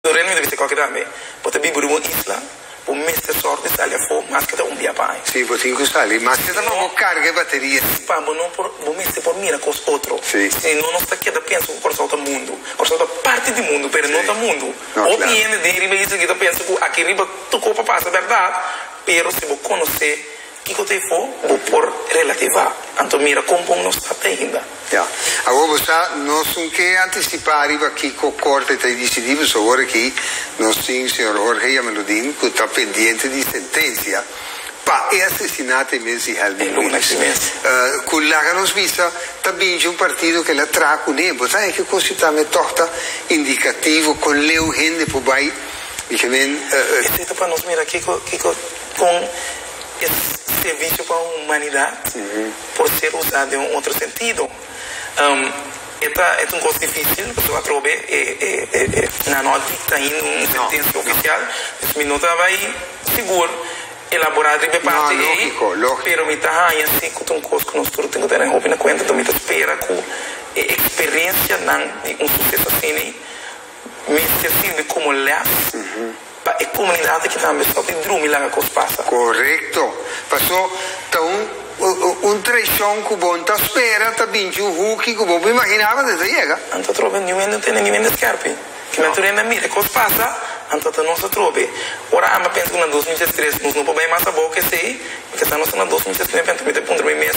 Bo rei no mester bisa koke tambe. Bo ta biba riba un isla. Bo mester sòrt di sali afó mas ke ta un bia pa aña. Si, bo tin ku sali mas ke ta mas bo karga e bateria si. Pa bo no por, bo mester por mira kos otro. Si. Si no, nos ta keda pensa ku Kòrsou ta mundu. Kòrsou ta parti di mundu, pero no ta mundu. Hopi hende den riba isla aki ta pensa ku aki riba tur kos por pasa bèrdat, pero si bo konosé. Kiko ta e bo bo por relativá? Anto mira kon bon nos ta ainda. Ya. Awor bo sa, nos no ke antisipá riba kiko Korte ta e disidí, pasobra awor akí nos tin señor Jorge Yameludin ku ta pendiente di sentensia pa e asesinato e mes di Helmut Miles. Ku laga nos bisa ta binchi un partido ku el a traha kuné. Bo ta eki kos yu tambe tòg ta indikativo kon leu hende por bai, mikemen. Esei ta pa nos mira kiko, kiko, kon. E servisho pa humanidat por ser usa den un otro sentido. E ta un cos dificil pasobra a trobe e nan no a dicta ainda un sentencia oficial, dus mi no ta bai sigur elabora riba e parti ei, pero mi ta haña si cu ta un cos cu nos tur tin cu tene hopi na cuenta, enton mi ta spera cu e experiencianan di un suceso asina Mester sirbi komo lès pa e komunidatnan ki tambe stòp di drumi laga kos pasa. Korekto. Paso ta un un traishon ku bo nta spera ta binchi un huki ku bo bo imaginaba ta yega. Anto atrobe niun hende no tene niun hende skèrpi. Ku natura hende a mira e kos pasa, anto ta nos atrobe. Ora ami a pensa ku na dos mil dies tres nos no por bai mas abou ku esei, mi ta sa nos ta na dos mil dies nueve anto mi ta puntra mi mes,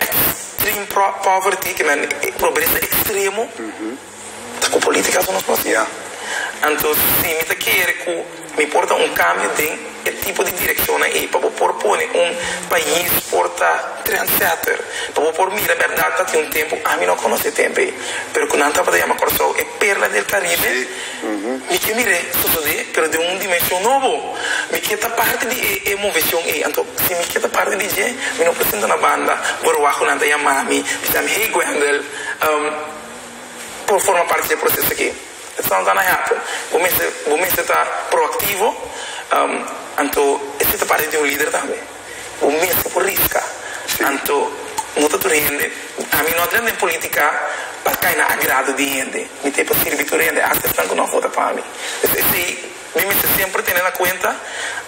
extreme poverty ke nan pobresa extremo ta ku politika su nos por hasi anto si mi ta kere ku mi por ta un kambio den e tipo di direkshonnan ei pa bo por pone un pais por ta trendsetter pa bo por mira bèrdat ta tin un tempu ami no konosé tempu ei pero ku nan tabata yama Kòrsou e perla del Karibe. Mi ke mir'é sosodé, pero den un dimenshon nobo. Mi ke ta parti di e e moveshon ei. Anto, si mi ke ta parti di dje, mi no por sinta na banda Boruag ku nan ta yama mi, bisami, Hey Gwendel, um por forma parti di e proseso aki. E ta tratando hèpu. Bo mester bo mester ta proaktivo, um anto, esei ta parti di un lider tambe. Bo mes ta por riska. Anto no ta tur hende. Ami no a drenta den politica pa cay na agrado di hende. Mi ta e pa sirbi tur hende, hasta esnan cu no a vota pa mi. Pues esey mi mester semper tene na cuenta.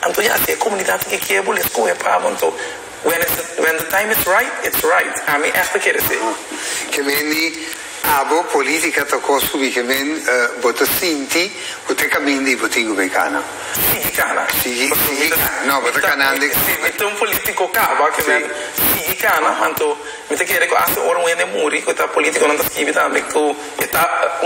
Anto ya, si e comunidad ta ke kier bo, lo escoge pa bo. Anto, when it's the time is right, it's right. Ami echt a ker esey. Ke meni. Abo politica ta cos cu biken men bo ta sinti cu te caminda y bo tin cu bay cana. Sigui cana. Sigui cana. No, bo ta canan de. Si mi ta un politico caba cu men sigui cana, anto mi ta kere cu asta ora un hende muri cu ta politico nan ta scibi tambe cu e ta.